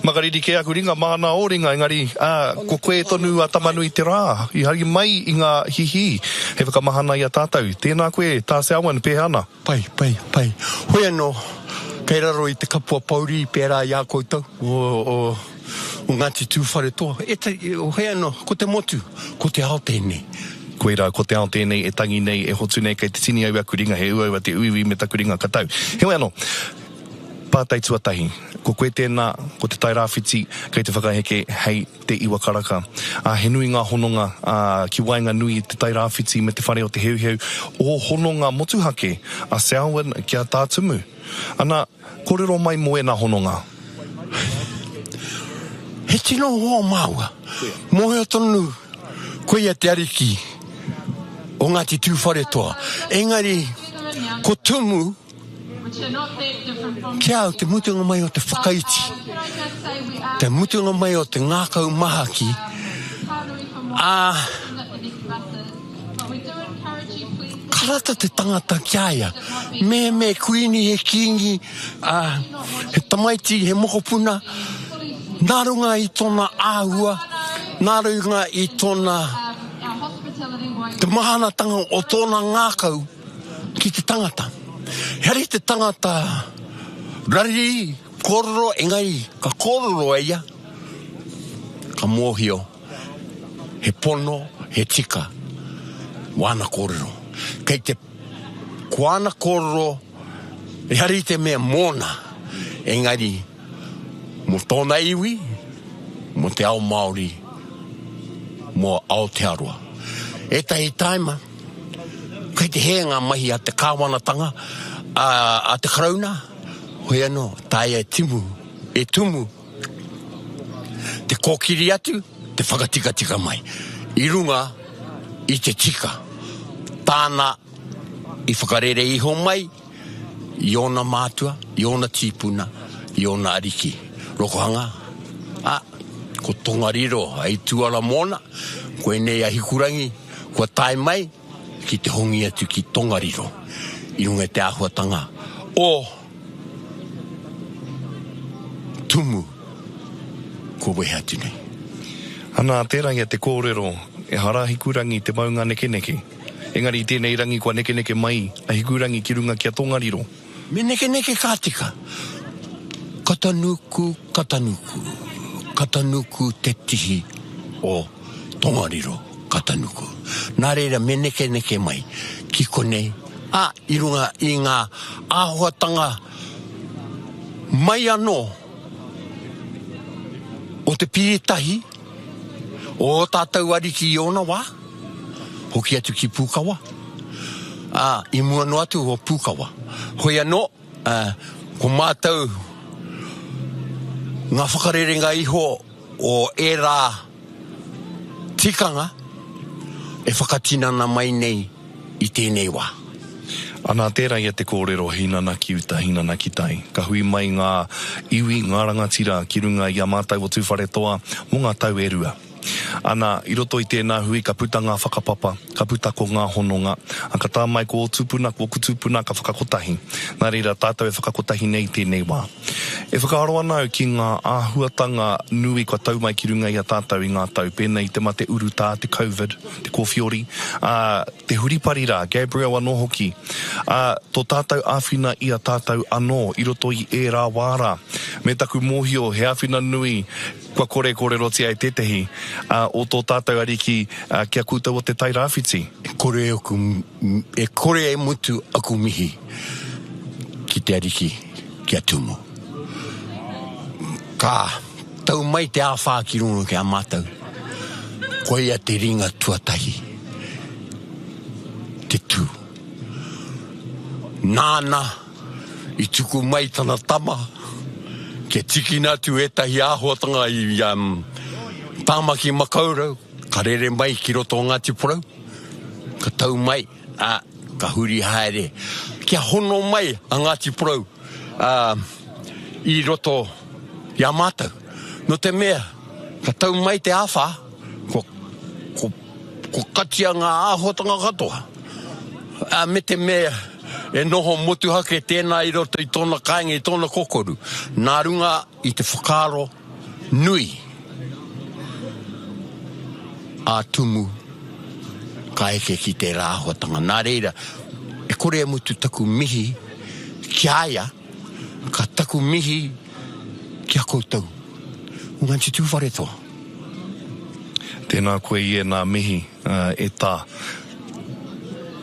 Makariri kē aku ringa māna ō ringa engari ko koe tonu a Tamanui te rā i hari mai i ngā hihī hei whakamahana i a tātou. Tēnā koe Tā Selwyn, pēhea ana? Pai, pai, pai. Hoi anō, kei raro i te kapua pouri pērā i a koutou o Ngāti Tūwharetoa, ētahi, hoi anō, ko te motu, ko te ao tēnei. Koirā, ko te ao tēnei e tangi nei, e hotu nei, kei te tini au i aku ringa, he uaua te uiui me taku ringa katau. Heoi anō. Pātai tuatahi. Ko koe tēnā, ko Te Tai Rāwhiti kei te whakaheke hei Te Iwa Karaka. Ā, he nui ngā hononga, ā, ki waenganui i Te Tai Rāwhiti me te whare o Te Heuheu, ō hononga motuhake a Selwyn ki a Tā Tumu. Ana, kōrero mai mō ēnā hononga. He tino hoa māua. Mōhio tonu, koia te ariki o Ngāti Tūwharetoa. Engari, ko Tumu. Ki a au te mutunga mai o te whakaiti, te mutunga mai o te ngākau mahaki, ā, ka rata te tangata ki a ia. Me, me kuini, he kīngi, ā, he tamaiti, he mokopuna, nā runga i tōna āhua, nā runga i tōna, te mahanatanga o tōna ngākau, Ki te tangata. He ari te tangata rariri, kororo, engari ka kororo e ia, ka mohio he pono, he tika wana korero. Kei te ko ana kororo, he ari te mea mona, engari. Mō tōna iwi, mō te ao Māori, mō Aotearoa. Ētahi tāima, kei te hē ngā mahi a te Kāwanatanga, ā, a te Karauna, hoi anō, tāia e timu, e tumu te kōkiri atu, te whakatikatika mai i runga i te tika tāna i whakarere iho mai, i ōna mātua, i ōna tīpuna, i ōna ariki. Rokohanga, ā, ko Tongariro hei tuara mōna, koinei a Hikurangi kua tae mai ki te hongi atu ki Tongariro i runga i te āhuatanga o Tumu kua wehe atu nei. Ana, tērā ia te kōrero, ehara Hikurangi te maunga nekeneke. Engari i tēnei rangi kua nekeneke mai a Hikurangi ki runga ki a Tongariro. Me nekeneke ka tika. Ka tanuku, ka tanuku, ka tanuku te tihi o Tongariro, ka tanuku. Nā reira me nekeneke mai ki konei, ā, i runga i ngā āhuatanga mai anō o te piritahi, Ō tātou Ariki i ōna wā, hoki atu ki Pūkawa, ā, i mua noa atu o Pūkawa. Hoi anō, ā, ko mātou ngā whakarerenga iho o ērā tikanga e whakatinana mai nei. i tēnei wā. Anā, tērā ia te kōrero hinana ki uta, hinana ki tai. Ka hui mai ngā iwi, ngā rangatira ki runga i a mātou o Tūwharetoa mō ngā tau e rua. Anā, i roto i tēnā hui ka puta ngā whakapapa, ka puta ko ngā hononga, ā, ka tā mai ko ō tūpuna, ko ōku tūpuna ka whakakotahi. Nā reira, tātou e whakakotahi nei i tēnei wā. E whakaaro ana au ki ngā āhuatanga nui kua tau mai ki runga i a tātou i ngā tau pēnei i te mate urutā, te Covid, te kōwhiori, ā, te huripari rā, Gabriel anō hoki, ā, tō tātou āwhina i a tātou anō i roto i ērā wā rā. Me taku mōhio he āwhina nui kua kore kōrerotia e tētehi, ā, o tō tātou Ariki, ā, ki a koutou o Te Tai Rāwhiti. E kore aku, e kore e mutu aku mihi ki te Ariki, ki a Tūmū. Ka. Tau mai te āwhā ki runga ki a mātou, koia te ringa tuatahi, te tū. Nāna i tuku mai tana tama kia tikina atu ētahi āhuatanga i a Tāmaki Makaurau, ka rere mai ki roto o Ngāti Porou, ka tau mai. Ā, ka huri haere kia hono mai a Ngāti Porou, ā, i roto i a mātou. Nō te mea, ka tau mai te āwhā, ko, ko, ko katia ngā āhuatanga katoa. Ā, me te mea, e noho motuhake tēnā i roto i tōna kāinga, i tōna kokoru, nā runga I te whakaaro nui a Tumu ka eke ki tērā āhuatanga. Nā reira, e kore e mutu taku mihi ki a ia, ka taku mihi ki a koutou. Ngāti Tūwharetoa. Tēnā koe i ēnā mihi, e Tā.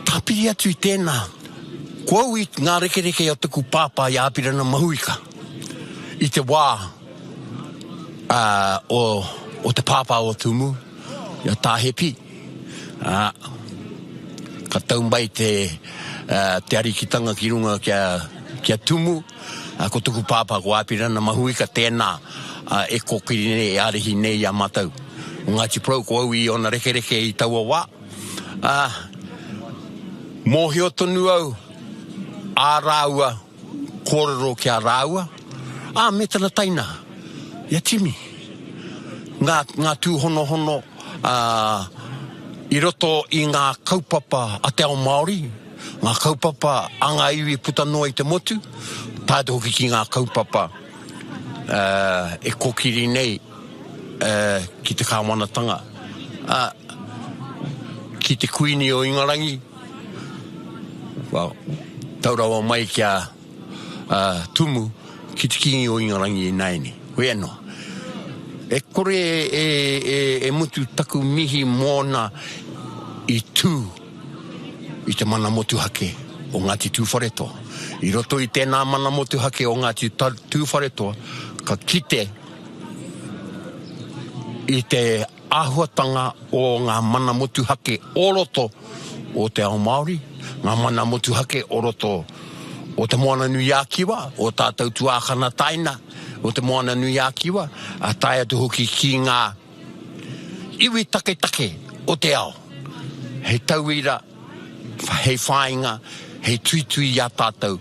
Tāpiri atu i tēnā, ko au i ngā rekereke a taku pāpā i a Apirana Mahuika. I te wā o te pāpā o Tūmū, i a Tāhepi, ka tau mai te arikitanga ki runga ki a Tūmū, ko tuku pāpā ko Āpirana Mahuika, tēnā e kōkiri nei, e arihi nei i a mātou o Ngāti Porou, ko au i ōna rekereke i taua wā. Mōhio tonu au, ā rāua. Kōrero ki a rāua, ā, me tana tainaha, i a Timi. Ngā, ngā tūhonohono, ā, i roto i ngā kaupapa a te ao Māori, ngā kaupapa a ngā iwi puta noa i te motu, tae atu hoki ki ngā kaupapa, ā, e kōkiri nei. ki te Kāwanatanga, ā, ki te Kuini o Ingarangi, tau rawa mai ki a Tumu, ki te Kīngi o Ingarangi ināianei. Koia noa. E kore e mutu taku mihi mōna i tū i te mana motuhake o Ngāti Tūwharetoa. I roto i tēnā mana motuhake o Ngāti Tūwharetoa, ka kite, i te āhuatanga o ngā mana motuhake o roto o te ao Māori, ngā mana motuhake o roto o Te Moana nui a Kiwa, o tātou tuākana taina o Te Moana nui a Kiwa, a tae atu hoki ki ngā Iwi taketake o te ao, hei tauira, hei whāinga, hei tuitui i a tātou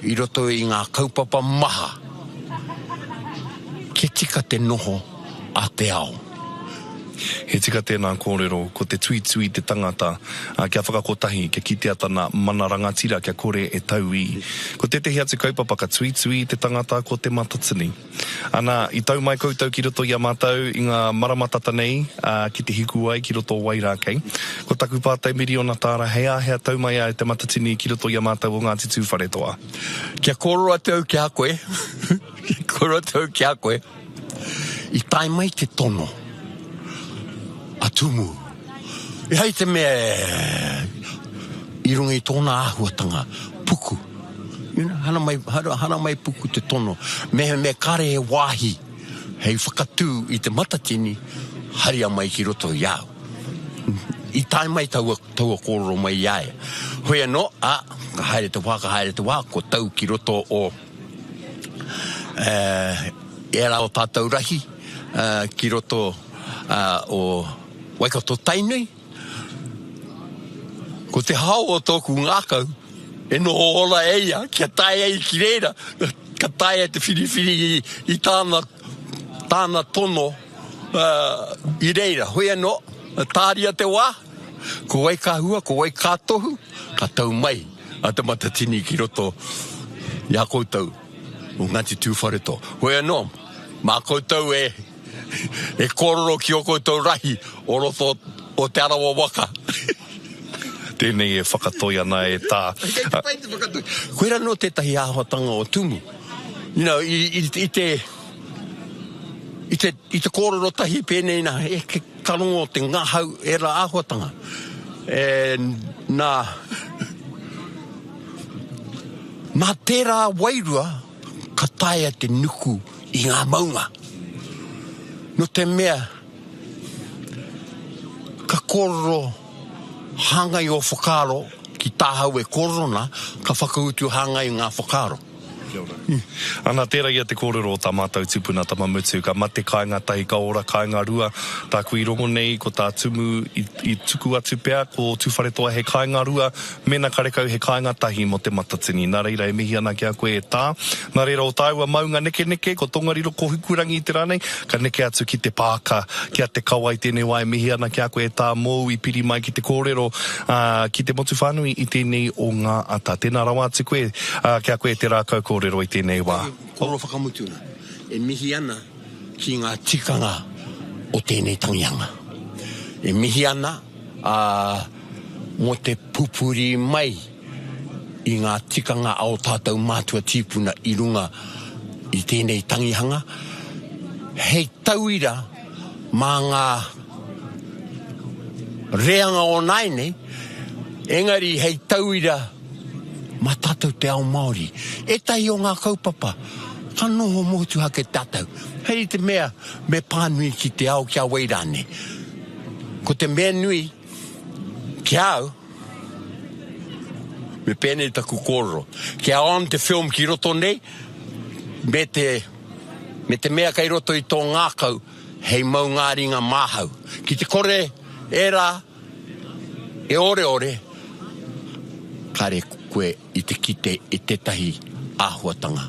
i roto i ngā kaupapa maha kia tika te noho a te ao. He tika tēnā kōrero, ko te tuitui te tangata kia whakakotahi, kia kitea tana mana rangatira kia kore e tauī. Ko tētehi atu kaupapa ka tuitui te tangata ko te matatini. Ana, i tau mai koutou ki roto i a mātou i ngā marama tata nei, ā, ki te hiku ai ki roto o wai rā kei. Ko taku pātai miriona tāra, hei ā, hea tau mai ai te Matatini ki roto i a mātou o Ngāti Tūwharetoa? Kia kōrero atu au ki a koe, kia kōrero atu au ki a koe, i tae mai te tono a Tumu. E hai te mea i runga i tōna āhuatanga, puku. You know, hana mai, hana, hana mai puku te tono. Me, me kare he wāhi hei whakatū i te matatini, haria mai ki roto i a au. I tae mai taua, taua kōrero mai i a ia. Hoi anō, ā, ka haere te wā, ka haere te wā, kua tau ki roto o ērā o tātou rahi, ki roto o, Waikato Tainui, Ko te hao o tōku ngākau e noho ora e ia kia tae ai ki reira, ka taea te whiriwhiri i tāna, tāna tono i reira. Hoi anō, tāria te wā, ko Waikahua, ko Waikatohu, ka tau mai a Te Matatini ki roto i a koutou o Ngāti Tūwharetoa. Hoi anō, mā koutou e. E kōrero ki ō koutou rahi o roto o Te Arawa waka. Tēnei e whakatoi ana e tā. Kei te pai te whakatoi. Koirā anō tētahi āhuatanga o Tumu. You know, i te, i te, i te kōrero tahi pēnei nā, ka rongo te ngahau ērā āhuatanga. And, nā, nā tērā wairua, ka taea te nuku i ngā maunga. No te mea, ka kōrero hāngai ō whakaaro ki tāhau e kōrero nā, ka whakautu hāngai ngā whakaaro. Kia ora. Ana, tērā ia te kōrero o tā mātou tupuna tama mutu, ka mate kāinga tahi, ka ora kāinga rua. Tāku i rongo nei, ko tā Tumu i tuku atu pea, ko Tūwharetoa he kāinga rua, Mēnā karekau he kāinga tahi mō te Matatini. Nā reira e mihi ana ki a koe e Tā. Nā reira o tāua maunga nekeneke, ko Tongariro, ko Hikurangi i te rā nei, ka neke atu ki te Pāka, ki a Te Kawa i tēnei wā e mihi ana ki a koe e Tā mōu i piri mai ki te kōrero, ā, ki te motu whānui i tēnei o ngā ata. Tēnā rawa atu koe, ā, ki a koe te rākau kōrero i tēnei wā. Kōrero whakamutunga, e mihi ana ki ngā tikanga o tēnei tangihanga. E mihi ana. ā, mō te pupuri mai i ngā tikanga a ō tātou mātua tīpuna i runga i tēnei tangihanga, hei tauira mā ngā reanga o nāianei, engari hei tauira mā tātou te ao Māori. Ētahi o ngā kaupapa, ka noho motuhake tātou, hei te mea me pānui ki te ao, ki a wai rānei. Ko te mea nui, ki a au, me pēnei taku kōrero, kia on te film ki roto nei, me te, me te mea kei roto i tō ngākau, hei maungāringa māhau. Ki te kore ērā e oreore, kare koe i te kite i tētahi āhuatanga.